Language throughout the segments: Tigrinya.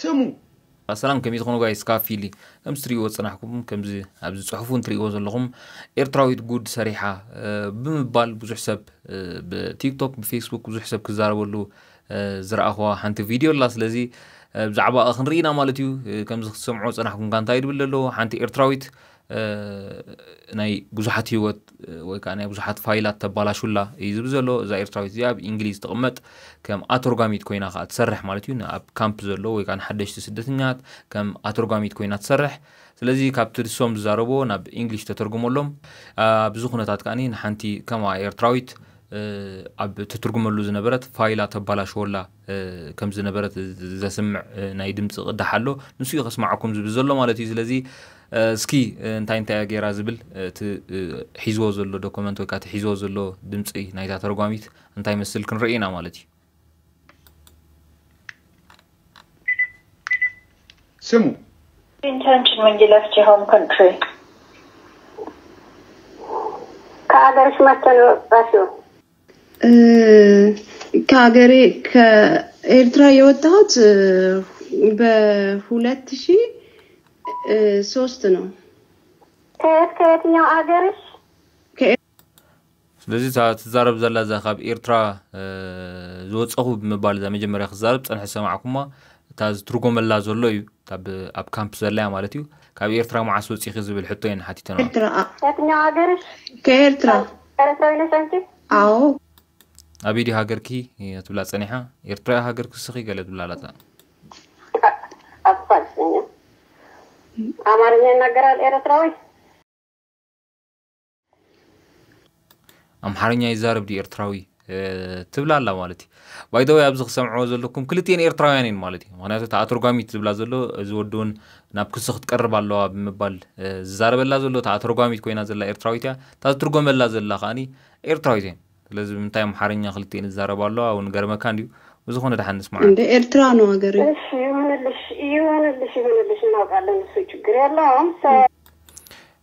ስሙ። ኣሰላም ከመይ ትኾኑ ጋይስ ካብ ፊሊ ከምዚ ትሪእዎ ዝጸናሕኩም ከምዚ ኣብዚ ጽሑፍ እውን ትሪእዎ ዘለኹም ኤርትራዊት ጉድ ሰሪሓ ብምባል ብዙሕ ሰብ ብቲክቶክ ብፌስቡክ ብዙሕ ሰብ ክዛረበሉ ዝረኣኹዋ ሓንቲ ቪድዮ ኣላ ስለዚ ብዛዕባ ክንርኢ ኢና ማለት እዩ ከምዚ ክትሰምዑ ጸናሕኩም ጋንታ ይድብል ኣለዎ ሓንቲ ኤርትራዊት ናይ ብዙሓት ህይወት ወይ ከዓ ናይ ብዙሓት ፋይላት ተባላሹላ እዩ ዝብል ዘሎ እዛ ኤርትራዊት እዚኣ ኣብ እንግሊዝ ትቕመጥ ከም ኣተርጓሚት ኮይና ከዓ ትሰርሕ ማለት እዩ ኣብ ካምፕ ዘሎ ወይ ከዓ ንሓደሽቲ ስደተኛት ከም ኣተርጓሚት ኮይና ትሰርሕ ስለዚ ካብቲ ንሶም ዝዛረብዎ ናብ እንግሊሽ ተተርጉመሎም ኣብዚ ኩነታት ከዓ ንሓንቲ ከምኣ ኤርትራዊት ኣብ ትትርጉመሉ ዝነበረት ፋይላ ተባላሸወላ ከም ዝነበረት ዘስምዕ ናይ ድምፂ ቅዳሕ ኣሎ ንሱ እዩ ከስማዓኩም ዝብል ዘሎ ማለት እዩ ስለዚ እስኪ እንታይ እንታይ እያ ገይራ ዝብል እቲ ሒዝዎ ዘሎ ዶክመንት ወይ ከዓ እቲ ሒዝዎ ዘሎ ድምፂ ናይታ ተርጓሚት እንታይ መስል ክንርኢ ኢና ማለት እዩ ስሙ intention when you left your home country ከኣገርሽ መተን ወጣሽው ከሀገሬ ከኤርትራ የወጣሁት በሁለት ሺ ሶስት ነው። ከየት ከየትኛው አገርሽ? ስለዚ እታ ትዛረብ ዘላ እዛ ካብ ኤርትራ ዝወፀኹ ብምባል እዛ መጀመርያ ክዛረብ ፀንሐ ዝሰማዕኩማ እታ ዝትርጎመላ ዘሎ እዩ ኣብ ካምፕ ዘለያ ማለት እዩ ካብ ኤርትራ መዓስ ወፂኺ ዝብል ሕቶ እየን ሓቲተን ኤርትራ ከኤርትራ ኤረትራዊ ነሽ ኣንቲ? ኣዎ። ኣበይ ድዩ ሃገርኪ ትብላ ጸኒሓ ኤርትራያ ሃገርኩ ስኺ ገለ ትብላ ኣላታ። ኣብ ፋልሰኛ ኣማርኛ ይናገራል ኤረትራዊ። ኣምሓርኛ ይዛረብ ድዩ ኤርትራዊ። ትብላ ኣላ ማለት እዩ ባይደወይ ኣብዚ ክሰምዕዎ ዘለኩም ክልቲኤን ኤርትራውያን እየን ማለት እዩ ምክንያቱ እታ ኣተርጓሚት ዝብላ ዘሎ እዚ ወዲ እውን ናብ ክሱ ክትቀርብ ኣለዋ ብምባል ዝዛረበላ ዘሎ እታ ኣተርጓሚት ኮይና ዘላ ኤርትራዊት እያ እታ ዝትርጎመላ ዘላ ከዓኒ ኤርትራዊት እየን ስለዚ ምንታይ ኣምሓርኛ ክልቲኤን ዝዛረባ ኣለዋ እውን ገርመካ እንድዩ ብዝኾነ ድሓን ንስማዕ እንደ ኤርትራ ነው ሀገር እሺ ይሁንልሽ ይሁንልሽ ይሁንልሽ እናውቃለን እሱ ችግር የለውም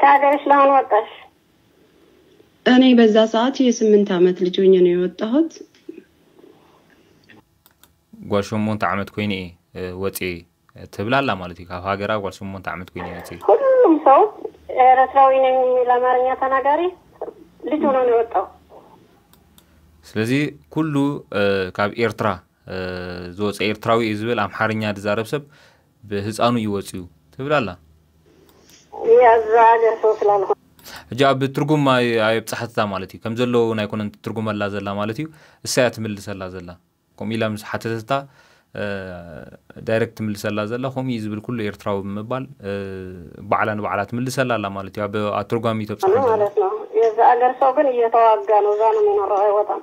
ከሀገርሽ ለምን ወጣሽ? እኔ በዛ ሰዓት የስምንት አመት ልጅ ሆኜ ነው የወጣሁት። ጓል ሸሞንተ ዓመት ኮይነ እየ ወፅየ ትብል ኣላ ማለት እዩ ካብ ሃገራ ጓል ሸሞንተ ዓመት ኮይነ ወፅየ ሁሉም ሰው ኤርትራዊ ነኝ የሚል አማርኛ ተናጋሪ ልጅ ሆኖ ነው የወጣው። ስለዚ ኩሉ ካብ ኤርትራ ዝወፀ ኤርትራዊ እዩ ዝብል ኣምሓርኛ ዝዛረብ ሰብ ብህጻኑ እዩ ወጺኡ ትብል ኣላ። ሕጂ ኣብ ትርጉም ኣየብጻሓትታ ማለት እዩ ከም ዘለዎ ውን ኣይኮነን ትትርጉመላ ዘላ ማለት እዩ እሳ እያ ትምልሰላ ዘላ ከምኡ ኢላ ምስ ሓተተታ ዳይረክት ትምልሰላ ዘላ ከምኡ እዩ ዝብል ኩሉ ኤርትራዊ ብምባል ባዕላ ንባዕላ ትምልሰላ ኣላ ማለት እዩ ኣብ ኣተርጓሚ ተብጻሓ ዘላ የዚ ኣገር ሰው ግን እየተዋጋ ነው እዛ ነው የሚኖረው አይወጣም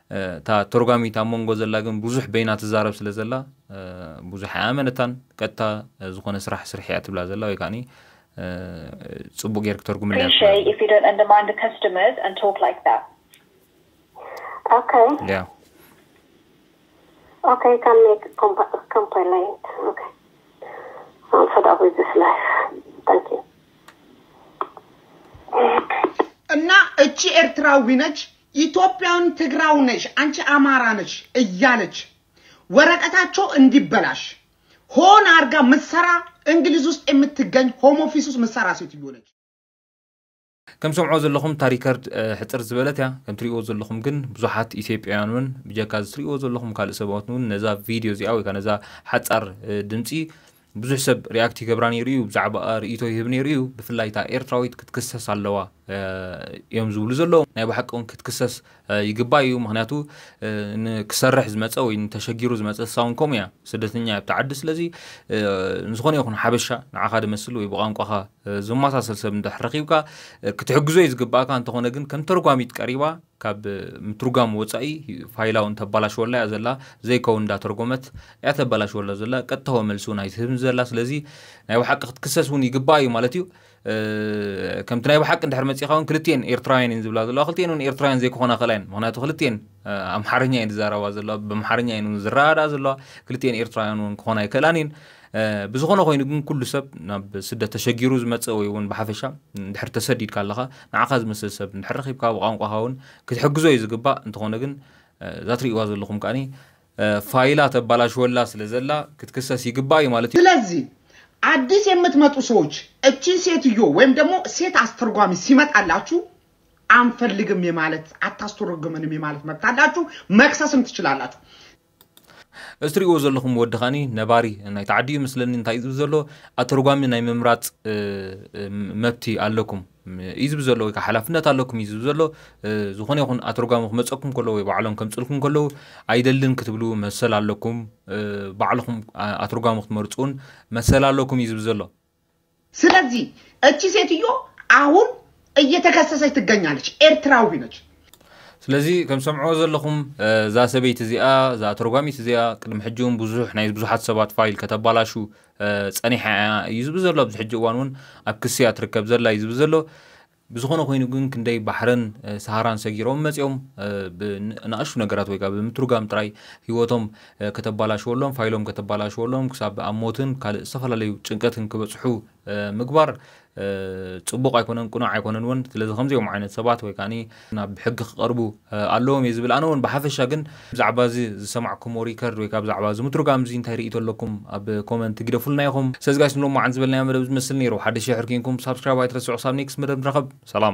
እታ ተርጓሚት ኣብ መንጎ ዘላ ግን ብዙሕ በይና ትዛረብ ስለ ዘላ ብዙሕ ኣይኣመነታን ቀጥታ ዝኾነ ስራሕ ስርሒ እያ ትብላ ዘላ ወይ ከዓኒ ጽቡቅ ጌርክ ተርጉምለይ እያ ትብላ ዘላ ያ Okay, can make comp- complaint. Okay. I'm fed up with this life. Thank you. እና እቺ ኤርትራዊ ነች ኢትዮጵያውያን ትግራው ነሽ አንቺ አማራ ነሽ እያለች ወረቀታቸው እንዲበላሽ ሆን አርጋ ምትሰራ እንግሊዝ ውስጥ የምትገኝ ሆም ኦፊስ ውስጥ ምትሰራ ሴትዮ ነች። ከም ሰምዖ ዘለኹም እታ ሪከርድ ሕፅር ዝበለት እያ ከም ትሪእዎ ዘለኹም ግን ብዙሓት ኢትዮጵያውያን እውን ብጀካ እዚ ትሪእዎ ዘለኹም ካልእ ሰባት እውን ነዛ ቪድዮ እዚኣ ወይ ከዓ ነዛ ሓፃር ድምፂ ብዙሕ ሰብ ሪኣክት ይገብራ ነይሩ እዩ ብዛዕባኣ ርእይቶ ይህብ ነይሩ እዩ ብፍላይ እታ ኤርትራዊት ክትክሰስ ኣለዋ እዮም ዝብሉ ዘለዉ ናይ ባሓቂ እውን ክትክሰስ ይግባእ እዩ ምክንያቱ ንክሰርሕ ዝመፀ ወይ ተሸጊሩ ዝመፀ ሳውን ከምኡ እያ ስደተኛ እያ ኣብቲ ዓዲ ስለዚ ንዝኾነ ይኹን ሓበሻ ንዓኻ ድመስል ወይ ብቋንቋኻ ዝመሳሰል ሰብ እንድሕር ረኺብካ ክትሕግዞ እዩ ዝግባእካ እንተኾነ ግን ከም ተርጓሚት ቀሪባ ካብ ምትርጓም ወጻኢ ፋይላ ውን ተባላሽወላ እያ ዘላ ዘይከውን እንዳ ተርጎመት እያ ተባላሽወላ ዘላ ቀጥታዊ መልሲ ውን ኣይትህብን ዘላ ስለዚ ናይ ብሓቂ ክትክሰስ ውን ይግባኣ እዩ ማለት እዩ ከምቲ ናይ ብሓቂ እንድሕር መጺኻ ውን ክልቲኤን ኤርትራውያን እየን ዝብላ ዘለዋ ክልቲኤን ውን ኤርትራውያን ዘይክኾና ክእላ እየን ምክንያቱ ክልቲኤን ኣምሓርኛ እየን ዝዛረባ ዘለዋ ብኣምሓርኛ እየን ውን ዝረዳኣ ዘለዋ ክልቲኤን ኤርትራውያን ውን ክኾና ኣይክእላን እየን ብዝኾነ ኮይኑ ግን ኩሉ ሰብ ናብ ስደት ተሸጊሩ ዝመጽእ ወይ እውን ብሓፈሻ ድሕር ተሰዲድካ ኣለኻ ንዓኻ ዝመስል ሰብ ድሕር ረኺብካ ብቋንቋኻ እውን ክትሕግዞ እዩ ዝግባእ እንተኾነ ግን እዛ ትርእይዋ ዘለኹም ከዓኒ ፋይላ ተባላሽወላ ስለ ዘላ ክትክሰስ ይግባእ እዩ ማለት እዩ። ስለዚህ አዲስ የምትመጡ ሰዎች እቺን ሴትዮ ወይም ደግሞ ሴት አስተርጓሚ ሲመጣላችሁ አንፈልግም የማለት አታስተረጉመንም የማለት መብት አላችሁ፣ መክሰስም ትችላላችሁ። እዚ ትሪእዎ ዘለኹም ወዲ ከኣኒ ነባሪ ናይቲ ዓዲ እዩ መስለኒ እንታይ እዩ ዝብል ዘሎ ኣተርጓሚ ናይ ምምራጽ መብቲ ኣለኩም እዩ ዝብል ዘሎ ወይ ከዓ ሓላፍነት ኣለኩም እዩ ዝብል ዘሎ ዝኾነ ይኹን ኣተርጓሚ ክመፀኩም ከለዉ ወይ ባዕሎም ከምፅልኩም ከለዉ ኣይደልን ክትብሉ መሰል ኣለኩም ባዕልኹም ኣተርጓሚ ክትመርፁን መሰል ኣለኩም እዩ ዝብል ዘሎ ስለዚህ እቺ ሴትዮ አሁን እየተከሰሰች ትገኛለች። ኤርትራዊ ነች። ስለዚ ከም ሰምዕዎ ዘለኹም እዛ ሰበይቲ እዚኣ እዛ ተርጓሚት እዚኣ ቅድሚ ሕጂ እውን ብዙሕ ናይ ብዙሓት ሰባት ፋይል ከተባላሹ ፀኒሓ እያ እዩ ዝብ ዘሎ ኣብዚ ሕጂ እዋን እውን ኣብ ክስያ ትርከብ ዘላ እዩ ዝብ ዘሎ ብዝኾነ ኮይኑ ግን ክንደይ ባሕርን ሰሃራን ሰጊሮም መጺኦም ብንኣሽቱ ነገራት ወይ ከኣ ብምትርጓም ጥራይ ህይወቶም ከተባላሽወሎም፣ ፋይሎም ከተባላሽወሎም ክሳብ ኣብ ሞትን ካልእ ዝተፈላለዩ ጭንቀትን ክበጽሑ ምግባር ጽቡቕ ኣይኮነን ቅኑዕ ኣይኮነን ውን። ስለዚ ከምዚኦም ዓይነት ሰባት ወይ ከኣ ናብ ሕጊ ክቐርቡ፣ ኣለዎም እየ ዝብል ኣነ ውን ብሓፈሻ ግን ብዛዕባ እዚ ዝሰማዕኩሞ ሪከርድ ወይ ከዓ ብዛዕባ እዚ ምትርጓም እዚ እንታይ ርእይቶ ኣለኩም ኣብ ኮመንት ግደፉልና ኢኹም ስለዚ ጋይስ ንሎሚ መዓልቲ ዝበልናዮ መደብ ዝመስል ነይሩ ሓደሽ ድሕር ኬንኩም ሳብስክራይብ ኣይትረስዑ ክሳብ ኔክስት መደብ ንራኸብ ሰላም